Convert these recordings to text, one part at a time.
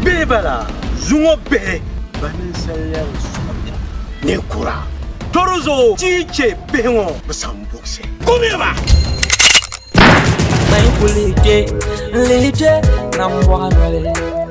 Bihi bala zuŋɔ bihi ba ninsaliya bi sɔrɔ ni kura doro zuɣu tii chɛ bihi ŋɔ bi san buɣisi kumiya ba Mai kulike, lije, nan bɔɣa noli.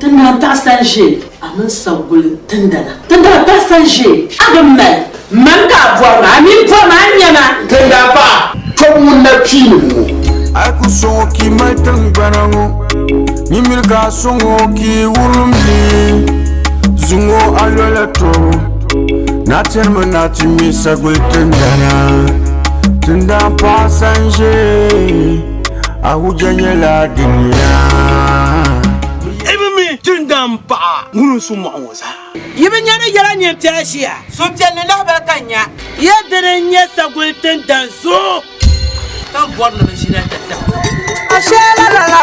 Ti daa taɣisa n-ʒe a mini Sagulim tindana. Ti daa taɣisa n-ʒe a bi mali. Mani ka a bɔri ma, a mi bɔri ma a nya ma. Ti daa paɣi tɔbu ŋun na kpiinim ŋɔ. A yi ku sɔŋ o ka yi mali tiŋgbana ŋɔ, nyin miri ka a sɔŋ o ka yi wurim li, zuŋ o a lɔla tɔbu. Na tiri mi ni a ti ŋme Saguli tindana. Tindana paɣisa n-ʒe. Ahuja nyɛla duniya. Jindam paɣa ŋun su mɔɣu ŋɔ zaa. Yi bi nya ni yɛla nyin ti a ʒiya. Suhupiɛlli lahabali ka n nya. Ya dini n-nyɛ saguli tindan zuɣu. Ka m bɔri ni bɛ ʒina data. Asheela lala.